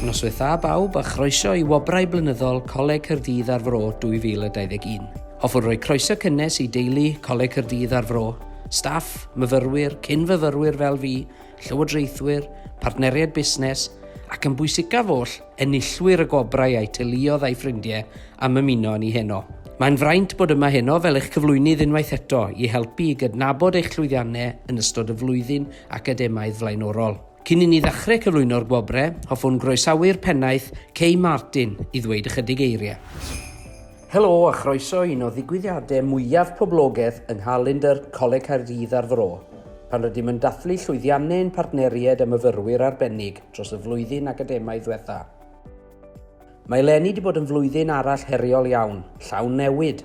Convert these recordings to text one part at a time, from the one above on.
Noswaith dda bawb a chroeso i Wobrau Blynyddol Coleg Cyrdydd ar Fro 2021. Hoffwn roi croeso cynnes i deulu Coleg Cyrdydd ar Fro, staff, myfyrwyr, cyn-fyfyrwyr fel fi, llywodraethwyr, partneriaid busnes, ac yn bwysicaf oll, enillwyr y gwobrau a'u teuluoedd a'u ffrindiau am ymuno â ni heno. Mae'n fraint bod yma heno fel eich cyflwynydd unwaith eto i helpu i gydnabod eich llwyddiannau yn ystod y flwyddyn academaidd flaenorol. Cyn i ni ddechrau cyflwyno'r gwobrau, hoffwn groesawu'r Pennaeth, Kay Martin, i ddweud ychydig eiriau. Helo a chroeso i un o ddigwyddiadau mwyaf poblogaidd yng nghalendr Coleg Caerdydd a'r Fro, pan rydym yn dathlu llwyddiannau ein partneriaid a myfyrwyr arbennig dros y flwyddyn academaidd ddiwetha'. Mae eleni 'di bod yn flwyddyn arall heriol iawn, llawn newid,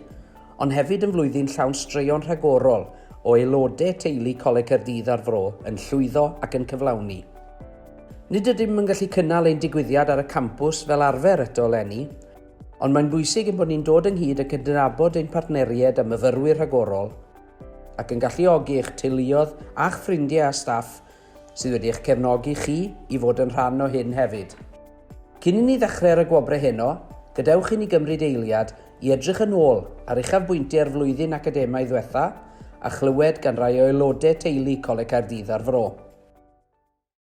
ond hefyd yn flwyddyn llawn straeon rhagorol o aelodau teulu Coleg Caerdydd a'r Fro yn llwyddo ac yn cyflawni. Nid ydym yn gallu cynnal ein digwyddiad ar y campws fel arfer eto eleni, Ond mae'n bwysig ein bod ni'n dod ynghyd a cydnabod ein partneriaid a myfyrwyr rhagorol ac yn galluogi eich teuluoedd a'ch ffrindiau a staff sydd wedi eich cefnogi chi i fod yn rhan o hyn hefyd. Cyn i ni ddechrau ar y gwobrau heno, gadewch i ni gymryd eiliad i edrych yn ôl ar uchafbwyntiau'r flwyddyn academaidd ddiwetha' a chlywed gan rai o aelodau teulu Coleg Caerdydd a'r Fro.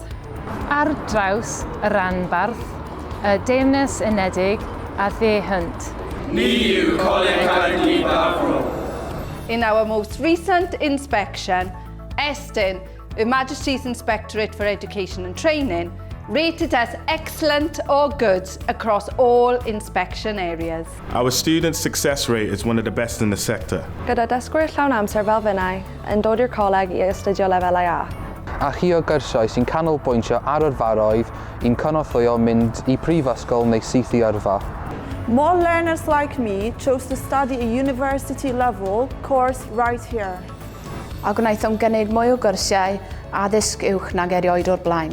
Wales. Ar draws y rhanbarth, y Deyrnas Unedig a Dde Hunt. Ni yw Coleg Caerdydd Daf Bro. In our most recent inspection, Estyn, Her Majesty's Inspectorate for Education and Training, rated us excellent or good across all inspection areas. Our student success rate is one of the best in the sector. Gyda dysgwyr llawn amser fel finnau yn dod i'r coleg i astudio lefelau A. A chi o gyrsiau sy'n canolbwyntio ar yrfaoedd i'n cynorthwyo mynd i prifysgol neu syth i yrfa? More learners like me chose to study a university level course right here. A gwnaethom gynnig mwy o gyrsiau addysg uwch nag erioed o'r blaen.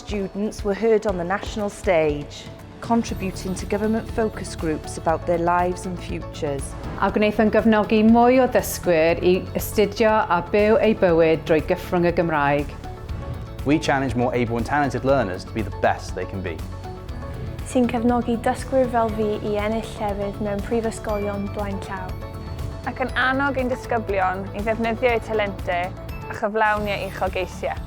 Students were heard on the national stage, contributing to government focus groups about their lives and futures. A gwnaethon gefnogi mwy o ddysgwyr i astudio a byw eu bywyd drwy gyffrwng y Gymraeg. We challenge more able and talented learners to be the best they can be. Sy'n cefnogi dysgwyr fel fi i ennill llefydd mewn prifysgolion blaen llaw. Ac yn annog ein disgyblion i ddefnyddio'u talentau a chyflawniau uchelgeisiau.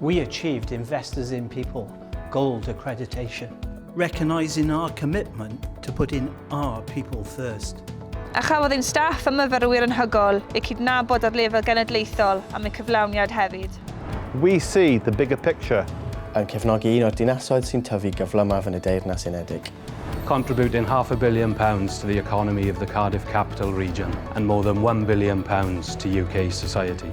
We achieved Investors in People Gold accreditation. Recognising our commitment to putting our people first. A chafodd ein staff a myfyrwyr yn hygol eu cydnabod ar lefel genedlaethol am eu cyflawniad hefyd. We see the bigger picture. Yn cefnogi un o'r dinasoedd sy'n tyfu gyflymaf yn y Deyrnas Unedig. Contributing half a billion pounds to the economy of the Cardiff Capital Region and more than one billion pounds to UK society.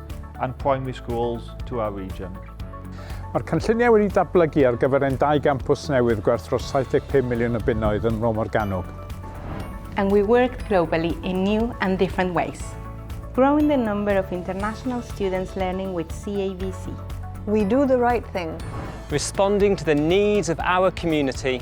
and primary schools to our region. Mae'r cynlluniau wedi datblygu ar gyfer ein dau gampws newydd gwerth dros 75 miliwn o bunnoedd yn Mro Morgannwg. And we worked globally in new and different ways. Growing the number of international students learning with CAVC. We do the right thing. Responding to the needs of our community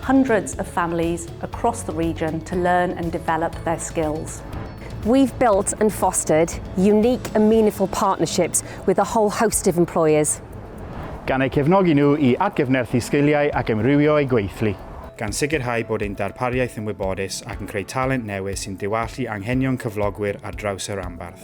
hundreds of families across the region to learn and develop their skills. We've built and fostered unique and meaningful partnerships with a whole host of employers. Gan eu cefnogi nhw i atgyfnerthu sgiliau ac amrywio eu gweithlu. Gan sicrhau bod ein darpariaeth yn wybodus ac yn creu talent newydd sy'n diwallu anghenion cyflogwyr ar draws y rhanbarth.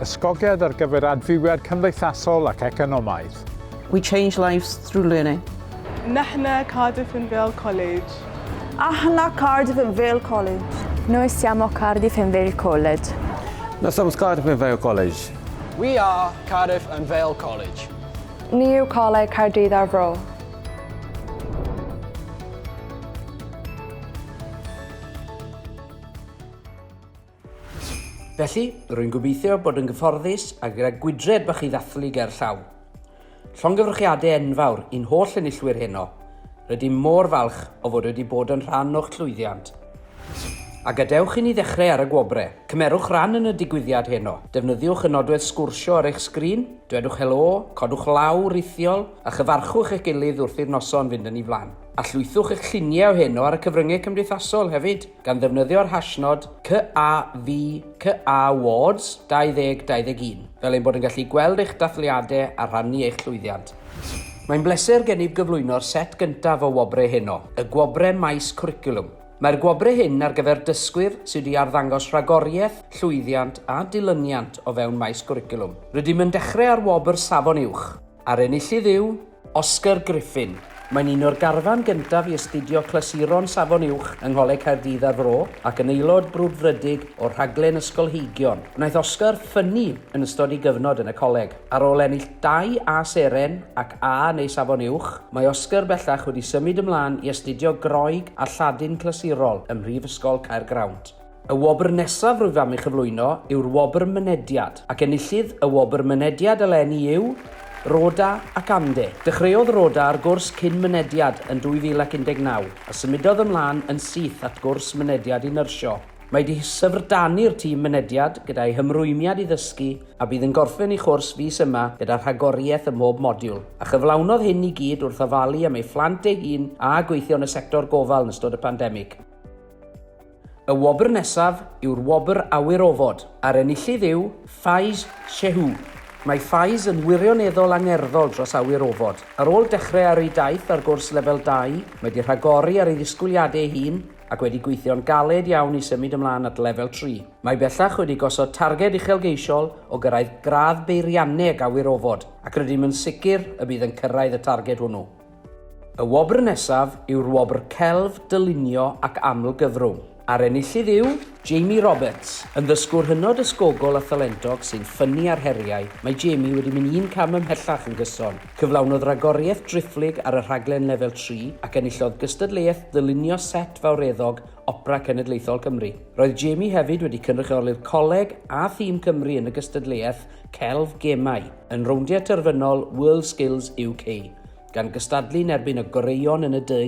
Ysgogiad ar gyfer adfywiad cymdeithasol ac economaidd. We change lives through learning. Nahna Cardiff and Vale College. Ahna Cardiff and Vale College. Noi siamo Cardiff and Vale College. Noi siamo Cardiff and Vale College. We are Cardiff and Vale College. Ni yw Coleg Caerdydd ar Fro. Felly, rwy'n gobeithio bod yn gyfforddus a gyda gwydred bach i ddathlu ger llaw. Llongyfrchiadau enfawr i'n holl enillwyr heno. Rydym mor falch o fod wedi bod yn rhan o'ch llwyddiant. A gadewch i ni ddechrau ar y gwobrau. Cymerwch ran yn y digwyddiad heno. Defnyddiwch y nodwedd sgwrsio ar eich sgrin, dwedwch helo, codwch law rithiol, a chyfarchwch eich gilydd wrth i'r noson fynd yn ei flaen. A llwythwch eich lluniau o heno ar y cyfryngau cymdeithasol hefyd! gan ddefnyddio'r hashnod CAVCAwards 2021, fel ein bod yn gallu gweld eich dathliadau a rhannu eich llwyddiant. Mae'n bleser gennyf gyflwyno'r set gyntaf o wobrau heno, y Gwobrau Maes Cwricwlwm. Mae'r gwobrau hyn ar gyfer dysgwyr sydd wedi arddangos rhagoriaeth, llwyddiant a dilyniant o fewn maes gwricwlwm. Rydym yn dechrau â'r wobr Safon Uwch, a'r enillydd yw, Oscar Griffin. Mae'n un o'r garfan gyntaf i astudio Clasuron Safon Uwch yng Ngholeg Caerdydd a'r Fro ac yn aelod brwdfrydig o rhaglen ysgolheigion. Gwnaeth Oscar ffynnu yn ystod ei gyfnod yn y coleg. Ar ôl ennill dau A Seren ac A neu Safon Uwch, mae Oscar bellach wedi symud ymlaen i astudio Groeg a Lladin Clasurol ym Mhrifysgol Caergrawnt. Y wobr nesaf rwyf am ei chyflwyno yw'r Wobr Mynediad, ac enillydd y Wobr Mynediad eleni yw Rhoda ac Amde. Dechreuodd Rhoda ar gwrs cyn mynediad yn 2019, a symudodd ymlaen yn syth at gwrs mynediad i nyrsio. Mae wedi syfrdanu'r tîm mynediad gyda'i hymrwymiad i ddysgu a bydd yn gorffen ei chwrs fis yma gyda rhagoriaeth ym mhob modiwl, a chyflawnodd hyn i gyd wrth ofalu am ei phlant deg un a gweithio yn y sector gofal yn ystod y pandemig. Y wobr nesaf yw'r Wobr Awyr Ofod, a'r enillydd yw Faiz Shehu. Mae Faiz yn wirioneddol angerddol dros awyr ofod. Ar ôl dechrau ar ei daith ar gwrs Lefel 2, mae 'di rhagori ar ei ddisgwyliadau ei hun ac wedi gweithio'n galed iawn i symud ymlaen at Lefel 3. Mae bellach wedi gosod targed uchelgeisiol o gyrraedd gradd beirianneg awyr ofod ac rydym yn sicr y bydd yn cyrraedd y targed hwnnw. Y wobr nesaf yw'r Wobr Celf, Dylunio ac Amlgyfrwng, a'r enillydd yw Jamie Roberts. Yn ddysgwr hynod ysgogol a thalentog sy'n ffynnu ar heriau, mae Jamie wedi mynd un cam ymhellach yn gyson. Cyflawnodd ragoriaeth driphlyg ar y rhaglen Lefel Tri ac enillodd gystadleuaeth ddylunio set fawreddog Opera Cenedlaethol Cymru. Roedd Jamie hefyd wedi cynrychioli'r coleg a thîm Cymru yn y gystadleuaeth celf gemau yn rowndiau terfynol WorldSkills UK, gan gystadlu yn erbyn y goreuon yn y du.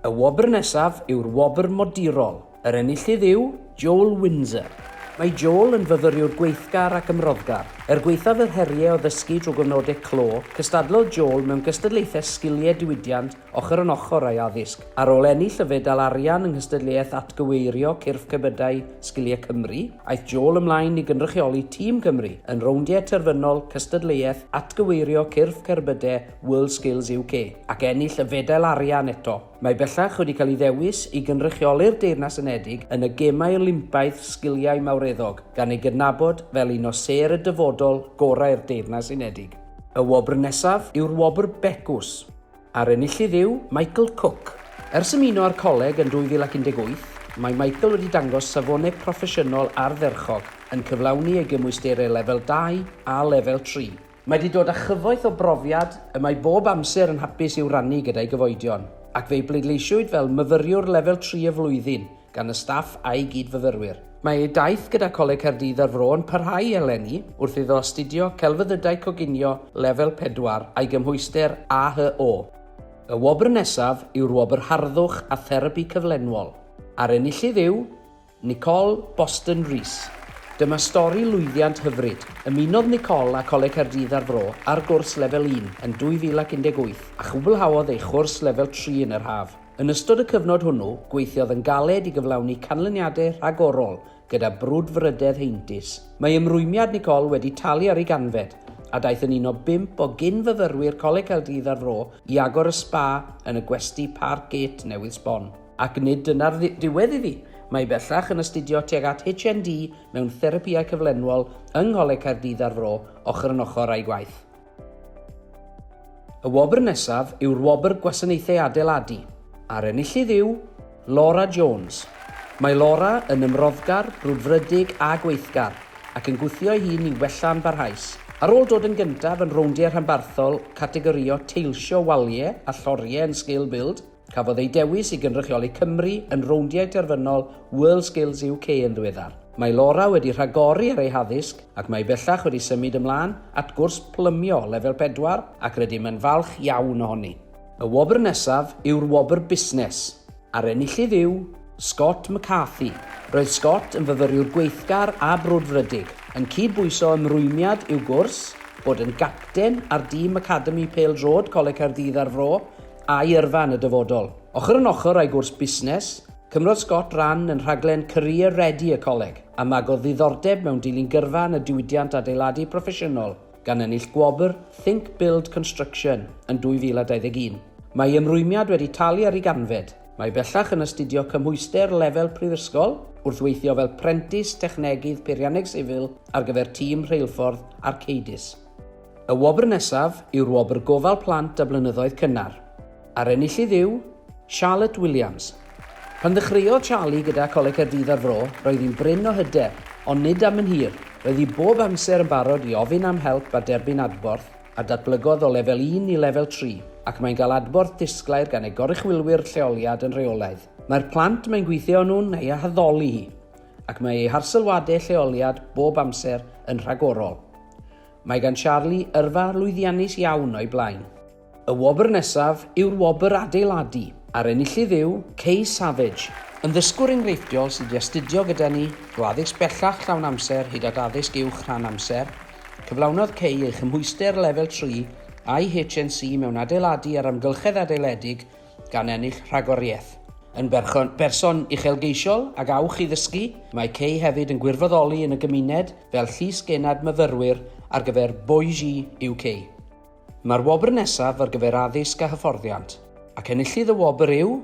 Y wobr nesaf yw'r wobr modurol. Yr enillydd yw Joel Windsor. Mae Joel yn fyfyriwr gweithgar ac ymroddgar. Er gwaethaf yr heriau o ddysgu drwy gyfnodau clo, cystadlodd Joel mewn gystadlaethau sgiliau diwydiant ochr yn ochr â'i addysg. Ar ôl ennill y fedal arian yng nghystadleuaeth atgyweirio cyrff cerbydau Sgiliau Cymru, aeth Joel ymlaen i gynrychioli Tîm Cymru yn rowndiau terfynol cystadleuaeth atgyweirio cyrff cerbydau WorldSkills UK, ac ennill y fedal arian eto. Mae bellach wedi cael ei ddewis i gynrychioli'r Deyrnas Unedig yn y Gemau Olympaidd Sgiliau Mawreddog, gan ei gydnabod fel un o sêr y dyfodol gorau'r Deyrnas Unedig. Y wobr nesaf yw'r Wobr Becws. A'r enillydd yw Michael Cook. Ers ymuno â'r coleg yn 2018, mae Michael wedi dangos safonau proffesiynol ardderchog, yn cyflawni ei gymwysterau Lefel 2 a Lefel 3. Mae wedi dod â chyfoeth o brofiad y mae bob amser yn hapus i'w rannu gyda'i gyfoedion, ac fe'i bleidleisiwyd fel Myfyriwr Lefel 3 y Flwyddyn gan y staff a'i gyd-fyfyrwyr. Mae ei daith gyda Coleg Caerdydd a'r Fro yn parhau eleni wrth iddo astudio Celfyddydau Coginio Lefel 4 a'i gymhwyster AHO. Y wobr nesaf yw'r Wobr Harddwch a Therapi Cyflenwol, a'r enillydd yw Nicole Boston Rees. Dyma stori lwyddiant hyfryd. Ymunodd Nicole â Coleg Caerdydd a'r Fro ar gwrs Lefel 1 yn 2018 a chwblhaodd ei chwrs Lefel 3 yn yr haf. Yn ystod y cyfnod hwnnw, gweithiodd yn galed i gyflawni canlyniadau rhagorol gyda brwdfrydedd heintus. Mae ymrwymiad Nicole wedi talu ar ei ganfed, a daeth yn un o bump o gyn-fyfyrwyr Coleg Caerdydd a'r Fro i agor y sba yn y gwesty Park Gate newydd sbon. Ac nid dyna'r ddiwedd iddi. Mae hi bellach yn astudio tuag at HND mewn Therapïau Cyflenwol yng Ngholeg Caerdydd a'r Fro, ochr yn ochr â'i gwaith. Y wobr nesaf yw'r Wobr Gwasanaethau Adeiladu, a'r enillydd yw Laura Jones. Mae Laura yn ymroddgar, brwdfrydig a gweithgar, ac yn gwthio ei hun i wella'n barhaus. Ar ôl dod yn gyntaf yn rowndiau rhanbarthol categorïo teilsio waliau a lloriau yn Scale Build, Cafodd ei dewis i gynrychioli Cymru yn rowndiau terfynol WorldSkills UK yn ddiweddar. Mae Laura wedi rhagori ar ei haddysg ac mae bellach wedi symud ymlaen at gwrs plymio lefel pedwar ac rydym yn falch iawn ohoni. Y wobr nesaf yw'r wobr busnes, a'r enillydd yw Scott McCarthy. Roedd Scott yn fyfyriwr gweithgar a brwdfrydig, yn cyd-bwyso ymrwymiad i'w gwrs, bod yn gapten ar dîm academi pêl-droed Coleg Caerdydd a'r Fro, a'i yrfa yn y dyfodol. Ochr yn ochr â'i gwrs busnes, cymrodd Scott ran yn rhaglen Career Ready y coleg, a magodd ddiddordeb mewn dilyn gyrfa yn y diwydiant adeiladu proffesiynol, gan ennill gwobr Think Build Construction yn 2021. Mae ei ymrwymiad wedi talu ar ei ganfed. Mae bellach yn astudio cymhwyster lefel prifysgol, wrth weithio fel prentis technegydd peirianneg sifil ar gyfer tîm rheilffordd Arcadis. Y wobr nesaf yw'r Wobr Gofal Plant a Blynyddoedd Cynnar, a'r enillydd yw Charlotte Williams. Pan ddechreuodd Charlie gyda Coleg Caerdydd a'r Fro, roedd hi'n brin o hyder, ond nid am yn hir. Roedd hi bob amser yn barod i ofyn am help a derbyn adborth, a datblygodd o Lefel Un i Lefel Tri, ac mae'n cael adborth disglair gan ei goruchwylwyr lleoliad yn rheolaidd. Mae'r plant mae'n gweithio â nhw'n ei haddoli hi, ac mae ei harsylwadau lleoliad bob amser yn rhagorol. Mae gan Charlie yrfa lwyddiannus iawn o'i blaen. Y wobr nesaf yw'r wobr adeiladu, a'r enillydd yw Kay Savage, yn ddysgwr enghreifftiol sydd wedi astudio gyda ni o addysg bellach llawn amser hyd at addysg uwch rhan amser. Cyflawnodd Kay ei chymhwyster lefel tri a'i HNC mewn adeiladu a'r amgylchedd adeiledig gan ennill rhagoriaeth. Yn berson uchelgeisiol ag awch i ddysgu, mae Kay hefyd yn gwirfoddoli yn y gymuned fel Llysgennad Myfyrwyr ar gyfer Boise UK. Mae'r wobr nesaf ar gyfer addysg a hyfforddiant, ac enillydd y wobr yw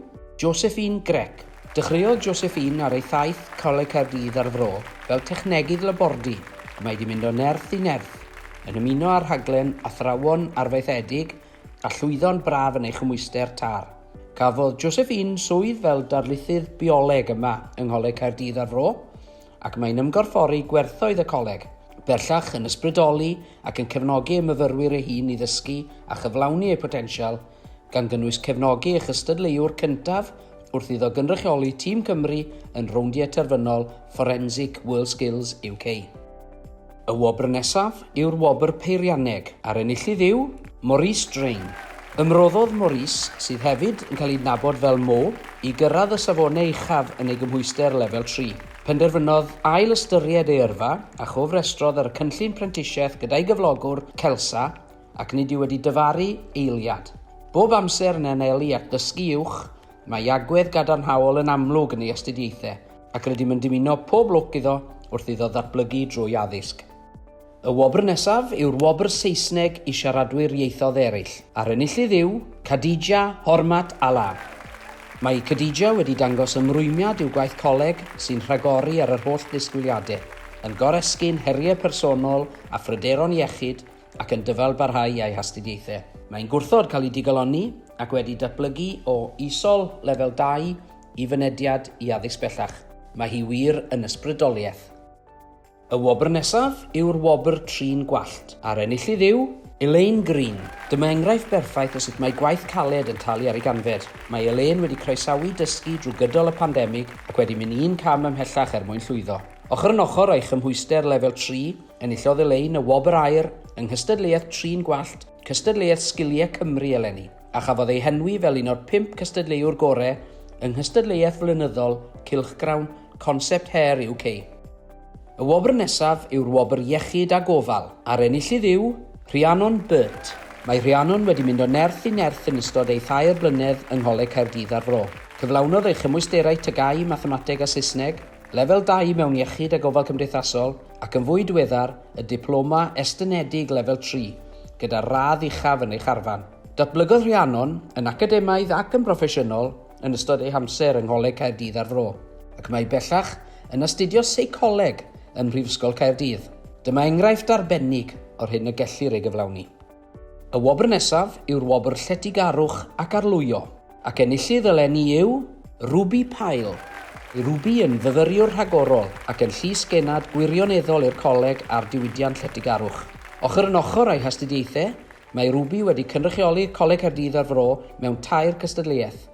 Josephine Grech. Dechreuodd Josephine ar ei thaith Coleg Caerdydd a'r Fro fel technegydd labordy, a mae wedi mynd o nerth i nerth, yn ymuno â'r rhaglen Athrawon Arfaethedig a llwyddo'n braf yn ei chymhwyster tar. Cafodd Josephine swydd fel darlithydd bioleg yma yng Ngholeg Caerdydd a'r Fro, ac mae'n ymgorffori gwerthoedd y coleg, bellach yn ysbrydoli ac yn cefnogi ei myfyrwyr ei hun i ddysgu a chyflawni eu potensial, gan gynnwys cefnogi ei chystadleuwr cyntaf wrth iddo gynrychioli Tîm Cymru yn Rowndiau Terfynol Forensic WorldSkills UK. Y wobr nesaf yw'r Wobr Peirianneg, a'r enillydd yw Maurice Drain. Ymroddodd Maurice, sydd hefyd yn cael ei adnabod fel Mo, i gyrraedd y safonau uchaf yn ei gymhwyster Lefel Tri. Penderfynodd ail-ystyried ei yrfa, a chofrestrodd ar y cynllun prentisiaeth gyda'i gyflogwr, Celsa, ac nid yw wedi dyfaru eiliad. Bob amser yn anelu at ddysgu uwch, mae agwedd gadarnhaol yn amlwg yn ei astudiaethau. ac rydym yn dymuno pob lwc iddo wrth iddo ddatblygu drwy addysg. Y wobr nesaf yw'r Wobr Saesneg i Siaradwyr Ieithoedd Eraill, a'r enillydd yw Khadija Hormat Alaa. Mae Khadija wedi dangos ymrwymiad i'w gwaith coleg sy'n rhagori ar yr holl ddisgwyliadau, yn goresgyn heriau personol a phryderon iechyd ac yn dyfalbarhau ei hastudiaethau. Mae'n gwrthod cael ei digalonni ac wedi datblygu o Isol Lefel 2 Y fynediad i addysg bellach. Mae hi wir yn ysbrydoliaeth. Y wobr nesaf yw'r wobr Trin Gwallt, a'r enillydd yw. Elaine Green. Dyma enghraifft berffaith o sut mae gwaith caled yn talu ar ei ganfed. Mae Elaine wedi croesawu dysgu drwy gydol y pandemig ac wedi mynd un cam ymhellach er mwyn llwyddo. Ochr yn ochr â'i chymhwyster Lefel Tri, enillodd Elaine y Wobr Aur yng nghystadleuaeth Trin Gwallt, cystadleuaeth Sgiliau Cymru eleni. a chafodd ei henwi fel un o'r pump cystadleuwr gorau yng nghystadleuaeth flynyddol cylchgrawn Concept Hair UK. Y wobr nesaf yw'r Wobr Iechyd a Gofal, a'r enillydd yw Rhiannon Burt. Mae Rhiannon wedi mynd o nerth i nerth yn ystod ei thair blynedd yng Ngholeg Caerdydd a'r Fro. Cyflawnodd ei chymwysterau TGAU Mathemateg a Saesneg, Lefel Dau mewn Iechyd a Gofal Cymdeithasol, ac yn fwy diweddar, y Diploma Estynedig Lefel Tri, gyda'r radd uchaf yn ei charfan. Datblygodd Rhiannon yn academaidd ac yn broffesiynol yn ystod ei hamser yng Ngholeg Caerdydd a'r Fro, ac mae bellach yn astudio Seicoleg ym Mhrifysgol Caerdydd. Dyma enghraifft arbennig o'r hyn y gellir ei gyflawni. Y wobr nesaf yw'r wobr Lletygarwch ac Arlwyo, ac enillydd eleni yw Ruby Pyle. Mae Ruby yn fyfyriwr rhagorol ac yn llys genad gwirioneddol i'r Coleg a'r diwydiant Lletygarwch. Ochr yn ochr â'i hastudiaethau, mae Ruby wedi cynrychioli Coleg Caerdydd a'r Fro mewn tair cystadleuaeth,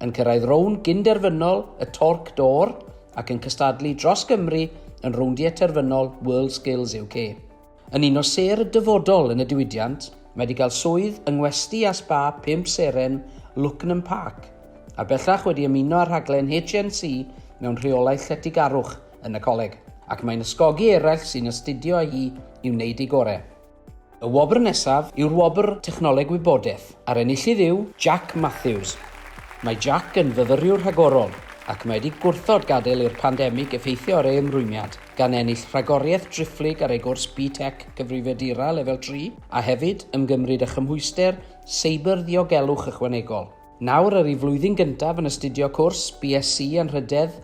yn cyrraedd rownd gyn-derfynol y Torc D'Or ac yn cystadlu dros Gymru yn rowndiau terfynol WorldSkills UK. Yn un o sêr y dyfodol yn y diwydiant, mae wedi cael swydd yng ngwesty a sba pump seren Lucknam Park, a bellach wedi ymuno â rhaglen HNC mewn rheolaeth lletygarwch yn y coleg, ac mae'n ysgogi eraill sy'n astudio â hi i wneud eu gorau. Y wobr nesaf yw'r Wobr Technoleg Wybodaeth, a'r enillydd yw Jack Matthews. Mae Jack yn fyfyriwr rhagorol, ac mae wedi gwrthod gadael i'r pandemig effeithio ar ei ymrwymiad. gan ennill rhagoriaeth driphlyg ar ei gwrs BTEC Cyfrifiadura Lefel Tri, a hefyd ymgymryd â chymhwyster Seibr Ddiogelwch Ychwanegol. Nawr ar ei flwyddyn gyntaf yn astudio cwrs BSc Anrhydedd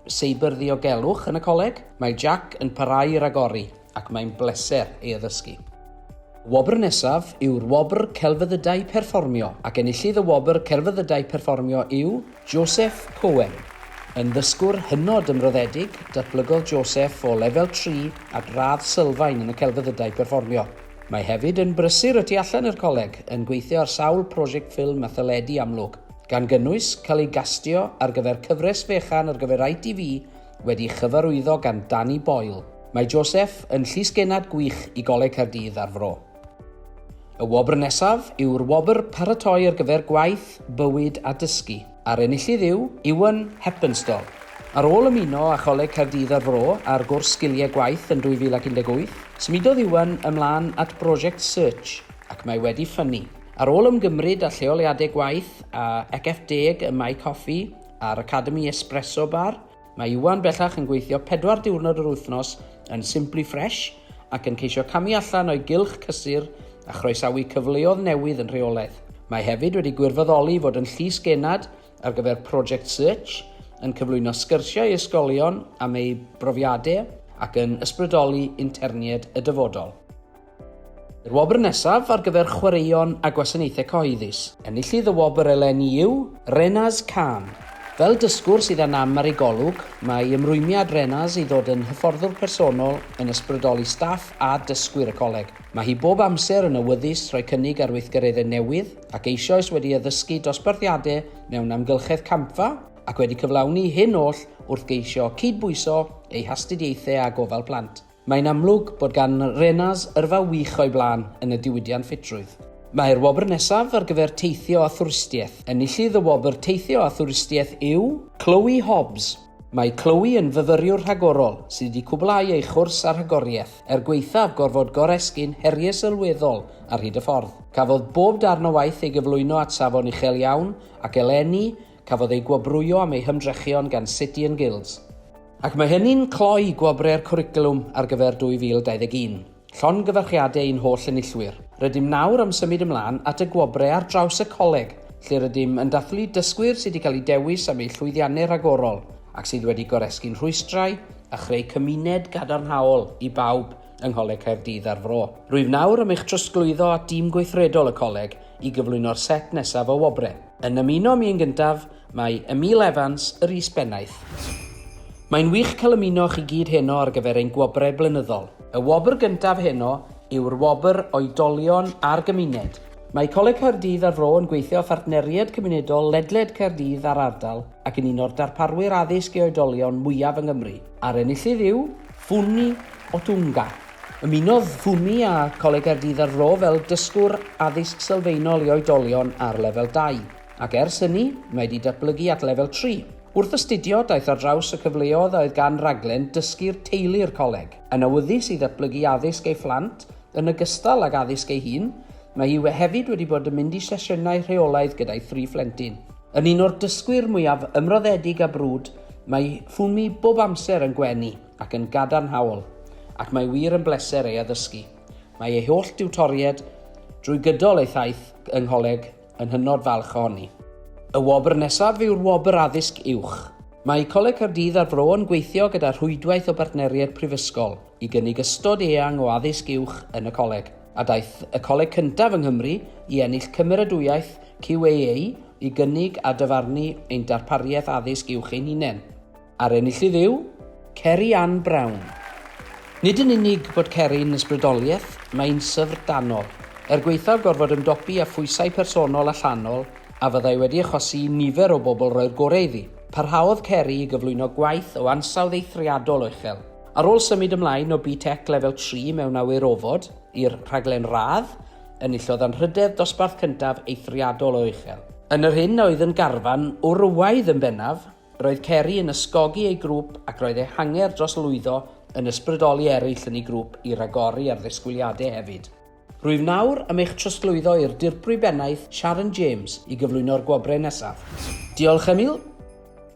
Seibr Ddiogelwch yn y coleg, mae Jack yn parhau i ragori ac mae'n bleser ei addysgu. Y wobr nesaf yw'r Wobr Celfyddydau Perfformio ac enillydd y Wobr Celfyddydau Perfformio yw Joseph Cohen, yn ddysgwr hynod ymroddedig, datblygodd Joseph o lefel tri at radd sylfaen yn y celfyddydau perfformio. Mae hefyd yn brysur y tu allan i'r coleg, yn gweithio ar sawl prosiect ffilm a theledu amlwg, gan gynnwys cael ei gastio ar gyfer cyfres fechan ar gyfer ITV wedi'i chyfarwyddo gan Danny Boyle. Mae Joseph yn llysgennad gwych i Goleg Caerdydd a'r Fro. Y wobr nesaf yw'r wobr Paratoi ar gyfer Gwaith, Bywyd a Dysgu, a'r enillydd yw Iwan Heppenstall. Ar ôl ymuno â Choleg Caerdydd a'r Fro ar gwrs Sgiliau Gwaith yn 2018, symudodd Iwan ymlaen at brosiect Search ac mae wedi ffynnu. Ar ôl ymgymryd â lleoliadau gwaith a 'Ecf Deg' ym Mae Coffi a'r Academi Espresso Bar, Mae Iwan bellach yn gweithio pedwar diwrnod yr wythnos yn Simply Fresh ac yn ceisio camu allan o'i gylch cysur a chroesawu cyfleodd newydd yn rheolaidd. Mae hefyd wedi gwirfoddoli i fod yn Llys Genad ar gyfer Project Search, yn cyflwyno sgyrsiau i ysgolion am eu brofiadau ac yn ysbrydoli internied y dyfodol. I'r wobr nesaf ar gyfer chwaraeon a gwasanaethau cyhoeddus. Enillydd y wobr eleni yw Renaz Khan. Fel dysgwr sydd â nam ar ei golwg, mae ymrwymiad Renaz i ddod yn hyfforddwr personol yn ysbrydoli staff a dysgwyr y coleg. Mae hi bob amser yn awyddus rhoi cynnig ar weithgareddau newydd ac eisoes wedi addysgu dosbarthiadau mewn amgylchedd campfa ac wedi cyflawni hyn oll wrth geisio cyd-bwyso ei hastudiaethau â gofal plant. Mae'n amlwg bod gan Renars yrfa wych o'i blaen yn y diwydiant ffitrwydd. Mae'r wobr nesaf ar gyfer Teithio a Thwristiaeth. Enillydd y wobr Teithio a Thwristiaeth yw. Chloe Hobbs. Mae Chloe yn fyfyriwr rhagorol sydd wedi cwblhau ei chwrs a rhagoriaeth, er gwaethaf gorfod goresgyn heriau sylweddol ar hyd y ffordd. Cafodd bob darn o waith ei gyflwyno at safon uchel iawn ac eleni cafodd ei gwobrwyo am ei hymdrechion gan City and Guilds. Ac mae hynny'n cloi gwobrau'r cwricwlwm ar gyfer 2021. Llongyfarchiadau i'n holl enillwyr. Rydym nawr am symud ymlaen at y gwobrau ar draws y coleg, lle rydym yn dathlu dysgwyr sydd wedi cael eu dewis am eu llwyddiannau rhagorol ac sydd wedi goresgyn rhwystrau a chreu cymuned gadarnhaol i bawb yng Ngholeg Caerdydd a'r Fro. Rwyf nawr am eich trosglwyddo at dîm gweithredol y coleg i gyflwyno'r set nesaf o wobrau. Yn ymuno â mi yn gyntaf, Mae Emil Evans yr is-bennaeth. Mae'n wych cael ymuno chi gyd heno ar gyfer ein gwobrau blynyddol. Y wobr gyntaf heno yw'r wobr Oedolion a'r Gymuned. Mae Coleg Caerdydd a'r Fro yn gweithio â phartneriaid cymunedol ledled Caerdydd a'r ardal ac yn un o'r darparwyr addysg i oedolion mwyaf yng Nghymru, a'r enillydd yw. Funmi Otunga. Ymunodd Funmi â Coleg Caerdydd a'r Fro fel Dysgwr Addysg Sylfaenol i Oedolion ar Lefel Dau. ac ers hynny, mae wedi datblygu at lefel tri. Wrth astudio, daeth ar draws y cyfleoedd a oedd gan raglen Dysgu'r Teulu i'r coleg. Yn awyddus i ddatblygu addysg ei phlant yn ogystal ag addysg ei hun, mae hi hefyd wedi bod yn mynd i sesiynau rheolaidd gyda'i thri phlentyn. Yn un o'r dysgwyr mwyaf ymroddedig a brwd, mae Fumi bob amser yn gwenu ac yn gadarnhaol, ac mae wir yn bleser ei addysgu. Mae ei holl diwtoried drwy gydol ei thaith yng Ngholeg Yn hynod falch ohoni. Y wobr nesaf yw'r Wobr Addysg Uwch. Mae Coleg Caerdydd a'r Fro yn gweithio gyda rhwydwaith o bartneriaid prifysgol i gynnig ystod eang o addysg uwch yn y coleg, a daeth y coleg cyntaf yng Nghymru i ennill cymeradwyaeth QAA i gynnig a dyfarnu ein darpariaeth addysg uwch ein hunain. A'r enillydd yw Ceri Ann Brown. Nid yn unig bod Ceri'n ysbrydoliaeth, mae'n syfrdanol, er gwaethaf gorfod ymdopi â phwysau personol allanol a fyddai wedi achosi i nifer o bobl roi'r gorau iddi. Parhaodd Ceri i gyflwyno gwaith o ansawdd eithriadol o uchel. Ar ôl symud ymlaen o BTEC Lefel Tri mewn Awyr Ofod i'r rhaglen radd, enillodd anrhydedd dosbarth cyntaf eithriadol o uchel. Yn yr hyn a oedd yn garfan wrywaidd yn bennaf, Roedd Ceri yn ysgogi ei grŵp ac roedd ei hanger dros lwyddo yn ysbrydoli eraill yn ei grŵp i ragori ar ddisgwyliadau hefyd. Rwyf nawr am eich trosglwyddo i'r Dirprwy Bennaeth Sharon James i gyflwyno'r gwobrau nesaf. Diolch, Emil.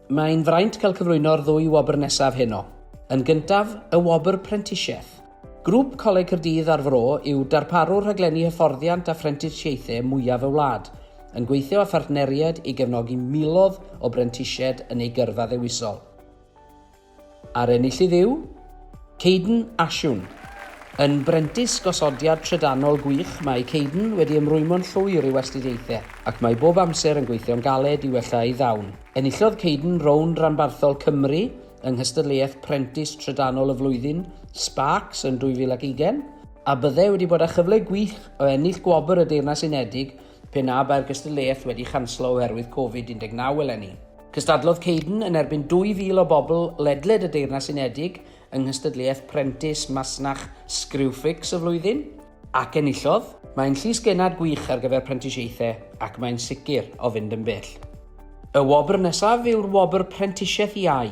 Mae'n fraint cael cyflwyno'r ddwy wobr nesaf heno. Yn gyntaf, y wobr Prentisiaeth. Grŵp Coleg Caerdydd a'r Fro yw darparwr rhaglenni hyfforddiant a phrentisiaethau mwyaf y wlad, yn gweithio â phartneriaid i gefnogi miloedd o brentisiaid yn eu gyrfa ddewisol. A'r enillydd yw. Caden Ashun. Yn brentis gosodiad trydanol gwych, mae Caden wedi ymrwymo'n llwyr i'w astudiaethau, ac mae bob amser yn gweithio'n galed i wella ei ddawn. Enillodd Caden rownd ranbarthol Cymru yng nghystadleuaeth Prentis Trydanol y Flwyddyn, Sparks, yn 2020, a byddai wedi bod â chyfle gwych o ennill gwobr y Deyrnas Unedig pe na bai'r gystadleuaeth wedi chanslo oherwydd Covid-19 eleni. Cystadlodd Caden yn erbyn 2,000 o bobl ledled y Deyrnas Unedig yng nghystadleuaeth Prentis Masnach Screwfix y Flwyddyn, Ac enillodd! Mae'n llys genad gwych ar gyfer prentisiaethau ac mae'n sicr o fynd yn bell. Y wobr nesaf yw'r Wobr Prentisiaeth Iau.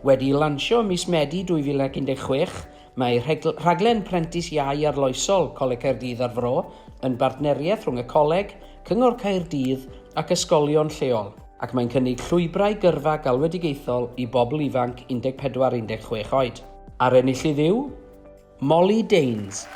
Wedi'i lansio ym mis Medi 2016, mae rhaglen Prentis Iau Arloesol Coleg Caerdydd a'r Fro yn bartneriaeth rhwng y Coleg, Cyngor Caerdydd ac ysgolion lleol, ac mae'n cynnig llwybrau gyrfa galwedigaethol i bobl ifanc 14-16 oed. A'r enillydd yw? Molly Danes.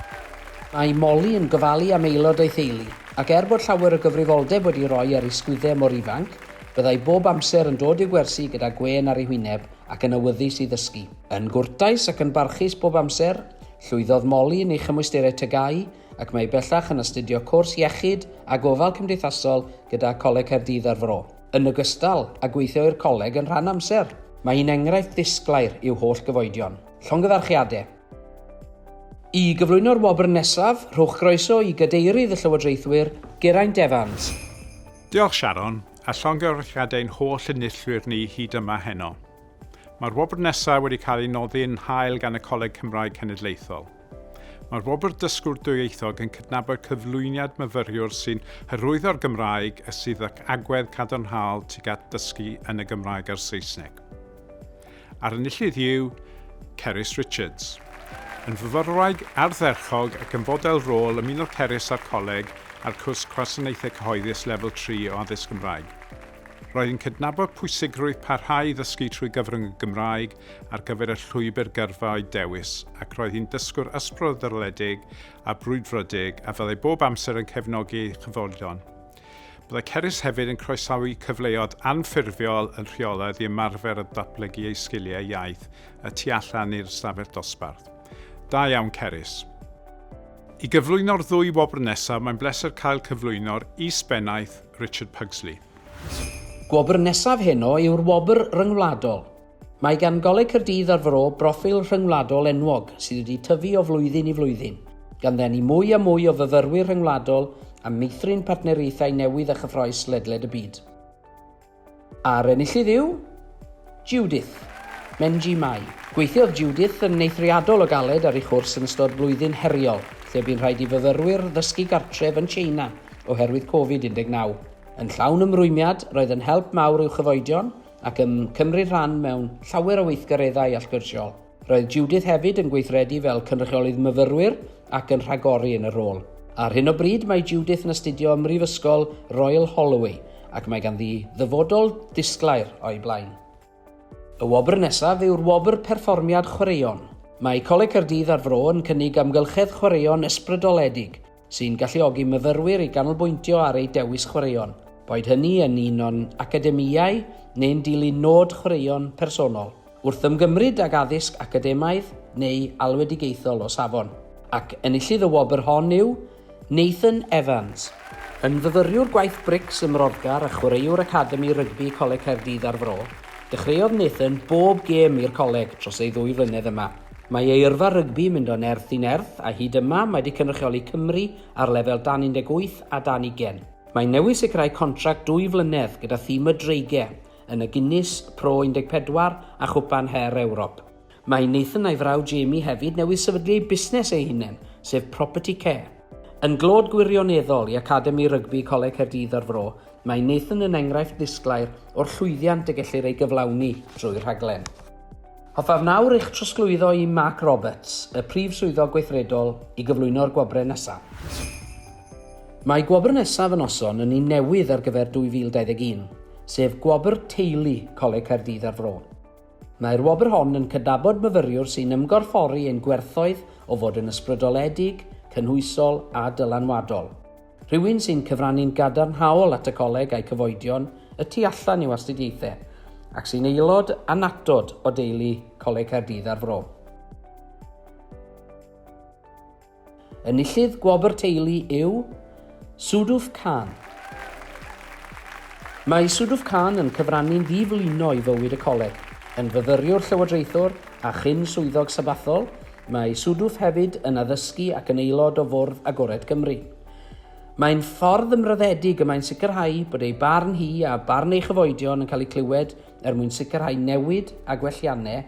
Mae Molly yn gofalu am aelod ei theulu, ac er bod llawer o gyfrifoldeb wedi roi ar ei sgwydde mor ifanc, byddai bob amser yn dod i'w gwersi gyda gwên ar ei hwyneb ac yn awyddus i ddysgu. Yn gwrtais ac yn barchus bob amser, llwyddodd Molly yn ei chymwysterau TGAU ac mae bellach yn astudio cwrs Iechyd a Gofal Cymdeithasol gyda Coleg Caerdydd a'r Fro, yn ogystal â gweithio i'r coleg yn rhan amser. Mae hi'n enghraifft ddisglair i'w holl gyfoedion. Llongyfarchiadau. I gyflwyno'r wobr nesaf, rhowch groeso i Gadeirydd y Llywodraethwyr, Geraint Evans. Diolch Sharon, a llongyfarchiadau i'n holl enillwyr ni hyd yma heno. Mae'r wobr nesaf wedi cael ei noddi yn hael gan y Coleg Cymraeg Cenedlaethol. Mae'r wobr Dysgwr Dwyieithog yn cydnabod cyflwyniad myfyriwr sy'n hyrwyddo'r Gymraeg a sydd ac agwedd cadarnhaol tuag at ddysgu yn y Gymraeg a'r Saesneg. a'r enillydd yw Cerys Richards. Yn fyfyrwraig ardderchog ac yn fodel rôl ymunodd Cerys â'r Coleg a'r cwrs Gwasanaethau Cyhoeddus Lefel Tri o Addysg Gymraeg. Roedd yn cydnabod pwysigrwydd parhau i ddysgu trwy gyfrwng y Gymraeg ar gyfer y llwybr gyrfa o'i dewis ac roedd hi'n dysgwr ysbrydoledig a brwdfrydig a fyddai bob amser yn cefnogi ei chyfolion. Byddai Cerys hefyd yn croesawu cyfleoedd anffurfiol yn rheolaidd i ymarfer a datblygu ei sgiliau iaith y tu allan i'r ystafell dosbarth. Da iawn Cerys! I gyflwyno'r ddwy wobr nesaf mae'n bleser cael cyflwyno'r Is-bennaeth Richard Pugsley. Gwobr nesaf heno yw'r Wobr Ryngwladol. Mae gan Goleg Caerdydd a'r Fro broffil rhyngwladol enwog sydd wedi tyfu o flwyddyn i flwyddyn, gan ddenu mwy a mwy o fyfyrwyr rhyngwladol a meithrin partneriaethau newydd a chyffrous ledled y byd. A'r enillydd yw... Judith. Menji Mai. Gweithiodd Judith yn eithriadol o galed ar ei chwrs yn ystod blwyddyn heriol, lle bu'n rhaid i fyfyrwyr ddysgu gartref yn Tsieina oherwydd Covid 19. Yn llawn ymrwymiad, roedd yn help mawr i'w chyfoedion ac yn cymryd rhan mewn llawer o weithgareddau allgyrsiol. Roedd Judith hefyd yn gweithredu fel cynrychiolydd myfyrwyr ac yn rhagori yn y rôl. Ar hyn o bryd mae Judith yn astudio ym Mhrifysgol Royal Holloway ac mae ganddi ddyfodol disglair o'i blaen. Y wobr nesaf yw'r Wobr Perfformiad Chwaraeon. Mae Coleg Caerdydd a'r Fro yn cynnig amgylchedd chwaraeon ysbrydoledig sy'n galluogi myfyrwyr i ganolbwyntio ar eu dewis chwaraeon, boed hynny yn un o'n academïau neu'n dilyn nod chwaraeon personol, wrth ymgymryd ag addysg academaidd neu alwedigaethol o safon, ac enillydd y wobr hon yw Nathan Evans. Yn fyfyriwr gwaith brics ym Mroddgar a chwaraewr academi rygbi Coleg Caerdydd a'r Fro, dechreuodd Nathan bob gêm i'r coleg dros ei ddwy flynedd yma. Mae ei yrfa rygbi'n mynd o nerth i nerth a hyd yma mae wedi cynrychioli Cymru ar lefel dan 18 a dan 20. Mae newydd sicrhau contract dwy flynedd gyda thîm y Dreigie yn y Guinness, Pro 14 a Chwpan Her Ewrop. Mae Nathan a'i frawd Jamie hefyd newydd sefydlu eu busnes eu hunain, sef Property Care. Yn glod gwirioneddol i Academi Rygbi Coleg Caerdydd a'r Fro, mae Nathan yn enghraifft ddisglair o'r llwyddiant y gellir ei gyflawni drwy'r rhaglen. Hoffaf nawr eich trosglwyddo i Mark Roberts, y Prif Swyddog Gweithredol, i gyflwyno'r gwobrau nesaf. Mae gwobr nesaf y noson yn un newydd ar gyfer 2021, sef Gwobr Teulu Coleg Caerdydd a'r Fro. Mae'r wobr hon yn cydnabod myfyriwr sy'n ymgorffori ein gwerthoedd o fod yn ysbrydoledig, cynhwysol a dylanwadol. Rhywun sy'n cyfrannu'n gadarnhaol at y Coleg a'i cyfoedion y tu allan i'w astudiaethau, ac sy'n aelod annatod o deulu Coleg Caerdydd a'r Fro. Enillydd Gwobr Teulu yw Suduf Khan. Mae Suduf Khan yn cyfrannu'n ddiflino i fywyd y Coleg, yn fyfyriwr llywodraethwr a chyn-swyddog Sabathol Mae Suduf hefyd yn addysgu ac yn aelod o Fwrdd Agored Cymru. Mae'n ffordd ymroddedig y mae'n sicrhau bod ei barn hi a barn ei chyfoedion yn cael eu clywed er mwyn sicrhau newid a gwelliannau,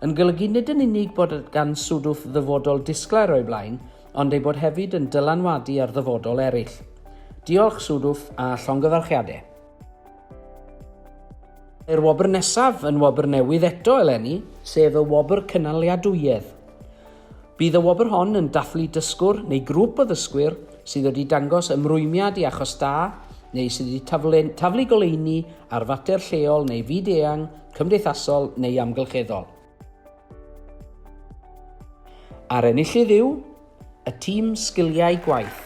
yn golygu nid yn unig bod gan Suduf ddyfodol disglair o'i blaen, ond ei bod hefyd yn dylanwadu ar ddyfodol eraill. Diolch, Suduf, a llongyfarchiadau! Mae'r wobr nesaf yn wobr newydd eto eleni, sef y Wobr Cynaliadwyedd. Bydd y wobr hon yn dathlu dysgwr neu grŵp o ddysgwyr sydd wedi dangos ymrwymiad i achos da neu sydd wedi taflu, taflu goleuni ar fater lleol neu fyd-eang, cymdeithasol neu amgylcheddol. A'r enillydd yw y Tîm Sgiliau Gwaith.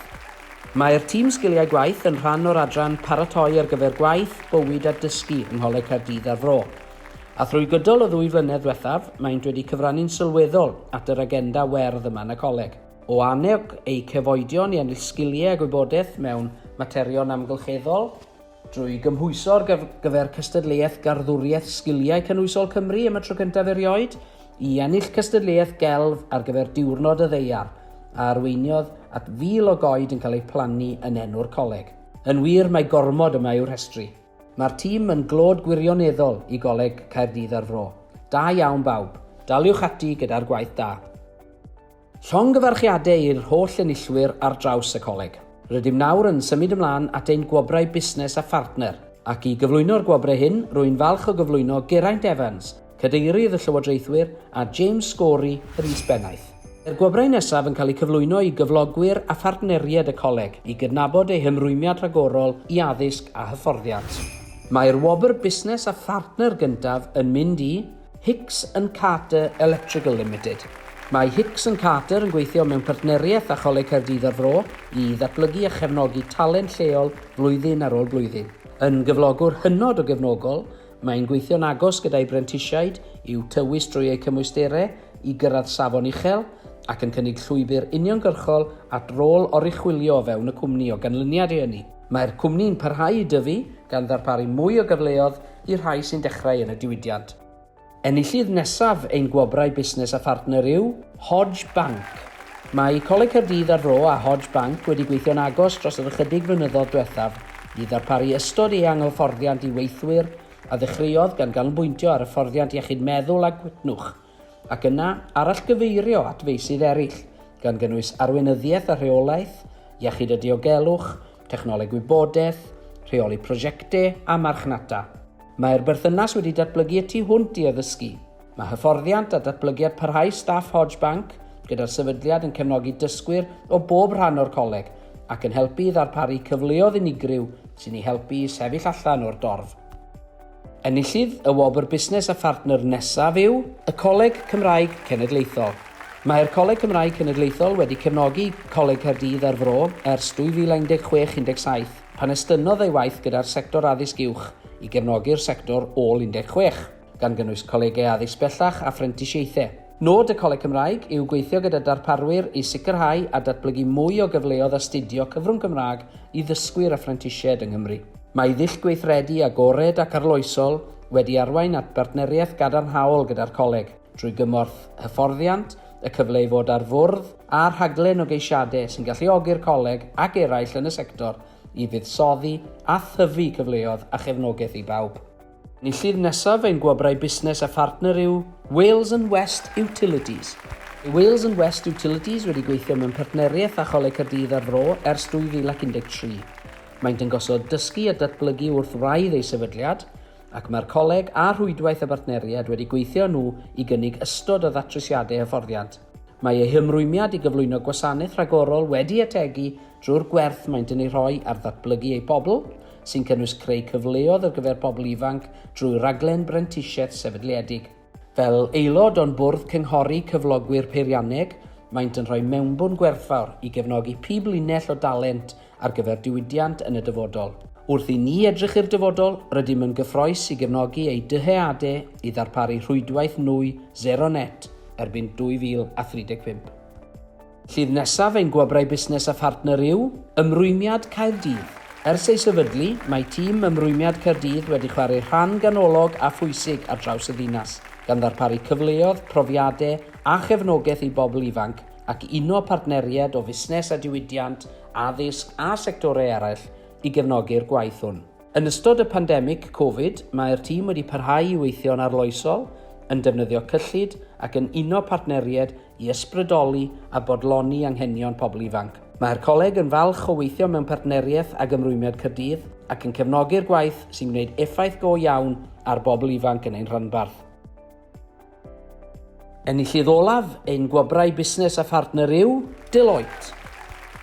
Mae'r Tîm Sgiliau Gwaith yn rhan o'r adran Paratoi ar gyfer Gwaith, Bywyd a Dysgu yng Ngholeg Caerdydd a'r Fro. A thrwy gydol y ddwy flynedd ddiwethaf, maent wedi cyfrannu'n sylweddol at yr agenda werdd yma yn y coleg. O annog eu cefoedion i ennill sgiliau a gwybodaeth mewn materion amgylcheddol, Drwy gymhwyso ar gyfer Cystadleuaeth Garddwriaeth Sgiliau Cynhwysol Cymru am y tro cyntaf erioed, i ennill cystadleuaeth gelf ar gyfer Diwrnod y Ddeiar, a arweiniodd at fil o goed yn cael eu plannu yn enw'r coleg. Yn wir, mae gormod yma i'w rhestru. Mae'r tîm yn glod gwirioneddol i Goleg Caerdydd a'r Fro. Da iawn bawb. Daliwch ati gyda'r gwaith da. Llongyfarchiadau i'r holl enillwyr ar draws y Coleg. Rydym nawr yn symud ymlaen at ein Gwobrau Busnes a Phartner, ac i gyflwyno'r gwobrau hyn, rwy'n falch o gyflwyno Geraint Evans, Cadeirydd y Llywodraethwyr, a James Scory, yr Is-Bennaeth. Mae'r gwobrau nesaf yn cael eu cyflwyno i gyflogwyr a phartneriaid y Coleg i gydnabod eu hymrwymiad rhagorol i addysg a hyfforddiant. Mae'r wobr Busnes a Phartner gyntaf yn mynd i. Hicks and Carter Electrical Limited. Mae Hicks and Carter yn gweithio mewn partneriaeth â Choleg Caerdydd a'r Fro i ddatblygu a chefnogi talent lleol flwyddyn ar ôl blwyddyn. Yn gyflogwr hynod o gefnogol, mae'n gweithio'n agos gyda'i brentisiaid i'w tywys drwy eu cymwysterau i gyrraedd safon uchel, ac yn cynnig llwybr uniongyrchol at rôl oruchwylio o fewn y cwmni o ganlyniad i hynny. Mae'r cwmni'n parhau i dyfu, gan ddarparu mwy o gyfleodd i'r rhai sy'n dechrau yn y diwydiant. Enillydd nesaf ein Gwobrau Busnes a Phartner yw Hodge Bank. Mae Coleg Caerdydd a'r Fro a Hodge Bank wedi gweithio'n agos dros yr ychydig flynyddoedd diwethaf i ddarparu ystod eang o hyfforddiant i weithwyr, a ddechreuodd gan ganolbwyntio ar hyfforddiant iechyd meddwl a gwytnwch, ac yna arallgyfeirio at feysydd eraill, gan gynnwys arweinyddiaeth a rheolaeth, iechyd a diogelwch, technoleg wybodaeth, rheoli prosiectau a marchnata. Mae'r berthynas wedi datblygu y tu hwnt i addysgu. Mae hyfforddiant a datblygiad parhaus staff Hodge Bank gyda'r sefydliad yn cefnogi dysgwyr o bob rhan o'r coleg ac yn helpu i ddarparu cyfleoedd unigryw sy'n eu helpu i sefyll allan o'r dorf. Enillydd y wobr Busnes a Phartner nesaf yw y Coleg Cymraeg Cenedlaethol. Mae'r Coleg Cymraeg Cenedlaethol wedi cefnogi Coleg Caerdydd a'r Fro ers 2016 17, pan estynnodd ei waith gyda'r sector addysg uwch i gefnogi'r sector ôl 16, gan gynnwys colegau addysg bellach a phrentisiaethau. Nod y Coleg Cymraeg yw gweithio gyda darparwyr i sicrhau a datblygu mwy o gyfleodd astudio cyfrwng Cymraeg i ddysgwyr a phrentisiaid yng Nghymru. Mae ei ddull gweithredu agored ac arloesol wedi arwain at bartneriaeth gadarnhaol gyda'r Coleg, drwy gymorth hyfforddiant, y cyfle i fod ar fwrdd â rhaglen o geisiadau sy'n galluogi'r Coleg ac eraill yn y sector i fuddsoddi a thyfu cyfleodd a chefnogaeth i bawb. Enillydd nesaf ein gwobrau busnes a phartner yw Wales and West Utilities. Mae Wales and West Utilities wedi gweithio mewn partneriaeth â Choleg Caerdydd a'r Fro ers 2013. Maent yn gosod dysgu a datblygu wrth wraidd eu sefydliad, ac mae'r coleg a rhwydwaith y bartneriaid wedi gweithio â nhw i gynnig ystod o ddatrysiadau hyfforddiant. Mae eu hymrwymiad i gyflwyno gwasanaeth rhagorol wedi ategu drwy'r gwerth maent yn ei rhoi ar ddatblygu eu pobl, sy'n cynnwys creu cyfleodd ar gyfer pobl ifanc drwy raglen brentisiaeth sefydliedig. Fel aelod o'n Bwrdd Cynghori Cyflogwyr Peirianneg, maent yn rhoi mewnbwn gwerthfawr i gefnogi pib linell o dalent ar gyfer diwydiant yn y dyfodol. Wrth i ni edrych i'r dyfodol, rydym yn gyffroes i gefnogi eu dyheadau i ddarparu rhwydwaith nwy sero net erbyn 2035. Llif nesaf ein Gwobrau Busnes a Phartner yw Ymrwymiad Caerdydd. Ers ei sefydlu, mae tîm Ymrwymiad Caerdydd wedi chwarae rhan ganolog a phwysig ar draws y ddinas, gan ddarparu cyfleoedd, profiadau a chefnogaeth i bobl ifanc ac uno partneriaid o fusnes a diwydiant, addysg a sectorau eraill i gefnogi'r gwaith hwn. Yn ystod y pandemig Covid, mae'r tîm wedi parhau i weithio'n arloesol, yn defnyddio cyllid ac yn uno partneriaid i ysbrydoli a bodloni anghenion pobl ifanc. Mae'r Coleg yn falch o weithio mewn partneriaeth ag Ymrwymiad Caerdydd ac yn cefnogi'r gwaith sy'n gwneud effaith go iawn ar bobl ifanc yn ein rhanbarth. Enillydd olaf ein Gwobrau Busnes a Phartner yw Deloitte.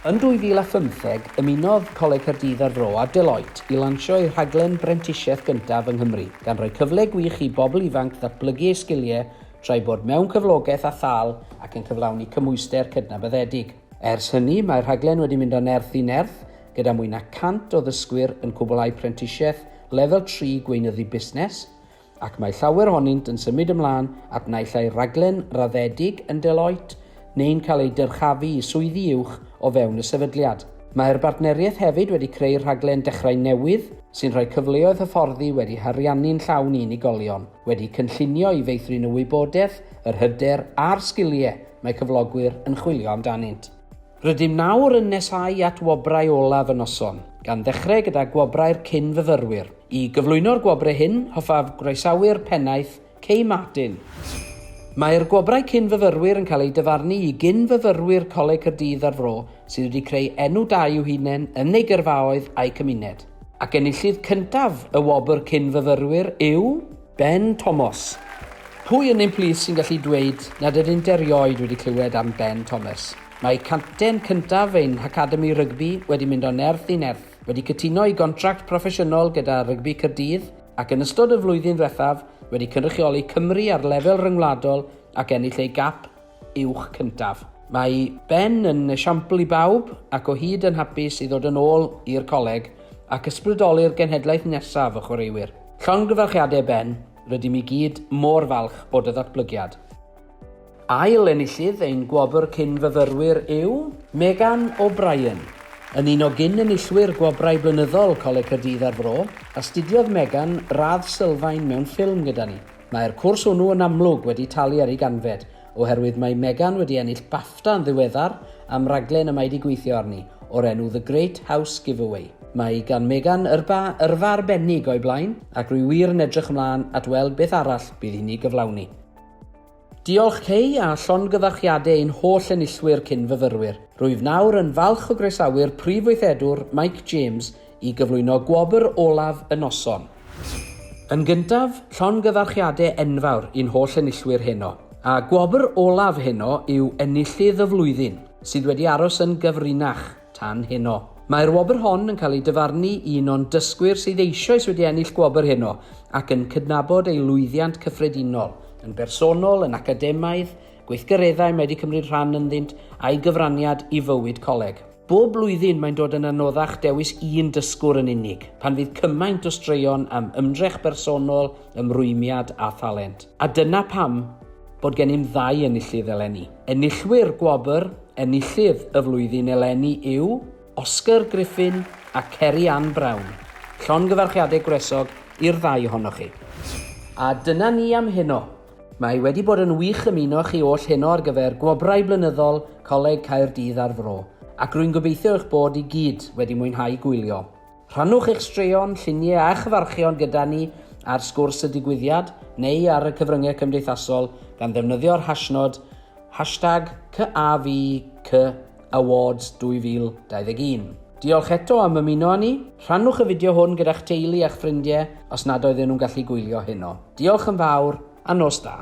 Yn 2015, ymunodd Coleg Caerdydd a'r Fro a Deloitte i lansio eu rhaglen brentisiaeth gyntaf yng Nghymru, gan roi cyfle gwych i bobl ifanc ddatblygu eu sgiliau tra'i bod mewn cyflogaeth â thâl ac yn cyflawni cymhwyster cydnabyddedig. Ers hynny, mae'r rhaglen wedi mynd o nerth i nerth, gyda mwy na 100 o ddysgwyr yn cwblhau prentisiaeth Lefel Tri Gweinyddu Busnes, ac mae llawer ohonynt yn symud ymlaen at naill ai raglen raddedig yn Deloitte neu'n cael eu dyrchafu i swyddi uwch o fewn y sefydliad. Mae'r bartneriaeth hefyd wedi creu rhaglen Dechrau Newydd, sy'n rhoi cyfleoedd hyfforddi wedi hariannu'n llawn i unigolion. wedi cynllunio i feithrin y wybodaeth, yr hyder a'r sgiliau mae cyflogwyr yn chwilio amdanynt. Rydym nawr yn nesáu at wobrau olaf y noson, gan ddechrau gyda gwobrau'r cyn-fyfyrwyr. I gyflwyno'r gwobrau hyn, hoffaf groesawu'r Pennaeth, Kay Martin. Mae'r gwobrau cyn-fyfyrwyr yn cael eu dyfarnu i gyn-fyfyrwyr Coleg Caerdydd a'r Fro sydd wedi creu enw da i'w hunain yn eu gyrfaoedd a'u cymuned. Ac enillydd cyntaf y wobr Cyn-fyfyrwyr yw Ben Tomos. Pwy yn ein plith sy'n gallu dweud nad ydynt erioed wedi clywed am Ben Thomas? Mae capten cyntaf ein hacademi rygbi wedi mynd o nerth i nerth, wedi cytuno i gontract proffesiynol gyda Rygbi Caerdydd ac yn ystod y flwyddyn ddiwethaf wedi cynrychioli Cymru ar lefel ryngwladol ac ennill ei gap uwch cyntaf. Mae Ben yn esiampl i bawb ac o hyd yn hapus i ddod yn ôl i'r coleg ac ysbrydoli'r genhedlaeth nesaf o chwaraewyr. Llongyfarchiadau Ben, rydym i gyd mor falch o dy ddatblygiad. Ail enillydd ein gwobr cyn-fyfyrwyr yw Megan O'Brien. Yn un o gyn-enillwyr gwobrau blynyddol Coleg Caerdydd a'r Fro, astudiodd Megan radd sylfaen mewn ffilm gyda ni. Mae'r cwrs hwnnw yn amlwg wedi talu ar ei ganfed, oherwydd mae Megan wedi ennill BAFTA yn ddiweddar am raglen y mae wedi gweithio arni, o'r enw The Great House Giveaway. Mae gan Megan yrfa yrfa arbennig o'i blaen, ac rwy wir yn edrych ymlaen at weld beth arall bydd hi'n ei gyflawni. Diolch Kay, a llongyfarchiadau i'n holl enillwyr cyn-fyfyrwyr. Rwyf nawr yn falch o groesawu'r Prif Weithredwr, Mike James, i gyflwyno gwobr olaf y noson. Yn gyntaf, llongyfarchiade enfawr i'n holl enillwyr heno. A gwobr olaf heno yw enillydd y flwyddyn, sydd wedi aros yn gyfrinach tan heno. Mae'r wobr hon yn cael ei dyfarnu un o'n dysgwyr sydd eisioes wedi ennill gwobr heno ac yn cydnabod ei lwyddiant cyffredinol, yn bersonol, yn academaidd, gweithgareddau mae wedi cymryd rhan ynddynt, a'i gyfraniad i fywyd coleg. Bob blwyddyn mae'n dod yn anoddach dewis un dysgwr yn unig, pan fydd cymaint o straeon am ymdrech bersonol, ymrwymiad a thalent. A dyna pam bod gennym ddau enillydd eleni. Enillwyr gwobr Enillydd y Flwyddyn eleni yw Oscar Griffin a Ceri Ann Brown. Llongyfarchiadau gwresog i'r ddau ohonoch chi. A dyna ni am heno. Mae wedi bod yn wych ymuno chi oll heno ar gyfer Gwobrau Blynyddol Coleg Caerdydd a'r Fro, ac rwy'n gobeithio eich bod i gyd wedi mwynhau gwylio. Rhannwch eich straeon, lluniau a chyfarchion gyda ni ar Sgwrs y Digwyddiad neu ar y cyfryngau cymdeithasol gan ddefnyddio'r hashnod hashtag CAVCD. Awards 2021. Diolch eto am ymuno â ni. Rhannwch y fideo hwn gyda'ch teulu a'ch ffrindiau os nad oedden nhw'n gallu gwylio heno. Diolch yn fawr a nos da!